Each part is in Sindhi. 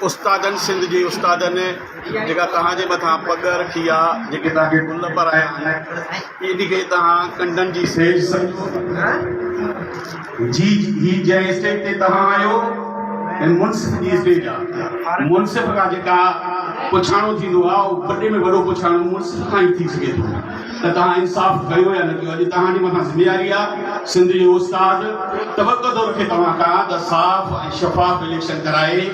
استادن سنڌ جي استادن جيڪا توهان جي مٿان پڳ رکي آ جيڪي توهان کي گل پرايا آهن انهي کي توهان ڪنڊن جي سيج سمجهو ٿا جي هي جنهن اسٽيج تي توهان آهيو هي منصف جي اسٽيج آ منصف کان جيڪا پڇاڻو ٿيندو آ اهو وڏي ۾ وڏو پڇاڻو منصف کان ئي ٿي سگهي ٿو ته توهان انصاف ڪيو يا نه ڪيو اڄ توهان جي مٿان ذميواري آ سنڌ جو استاد توقع ٿو رکي توهان کان ته صاف ۽ شفاف اليڪشن ڪرائي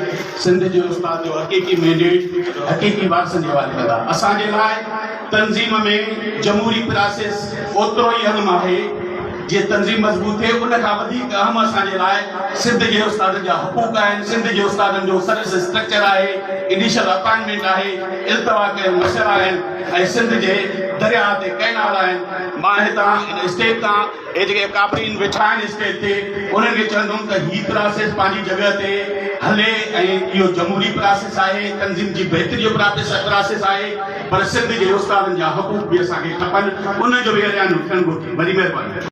سنڌ جي استاد جو حقيقي مينڊيٽ حقيقي وارثن جي حوالي ڪندا اسان جي لاء تنظيم ۾ جمهوري پراسيس اوترو ئي اهم آهي جي تنظيم مضبوط ٿئي ان کان وڌيڪ اهم اسان جي لاء سنڌ جي استادن جا حقوق آهن سنڌ جي استادن جو سروس اسٽرڪچر آهي انيشل اپائنٽمينٽ آهي التوا ڪيل مشر آهن ۽ سنڌ جي درياء تي ڪئنال آهن، مان هتان هن اسٽيج تان هي جيڪي ڪاپرين ويٺا آهن اسٽيج تي انهن کي چوندم ته هي پراسيس پنهنجي جڳهه تي هلي ۽ اهو جمهوري پراسيس آهي، تنظيم جي بهتري جو پراسيس آهي پر سنڌ جي استادن جا حقوق به اسان کي کپن انهن جو به اعلان ٿيڻ گهرجي. وڏي مهرباني.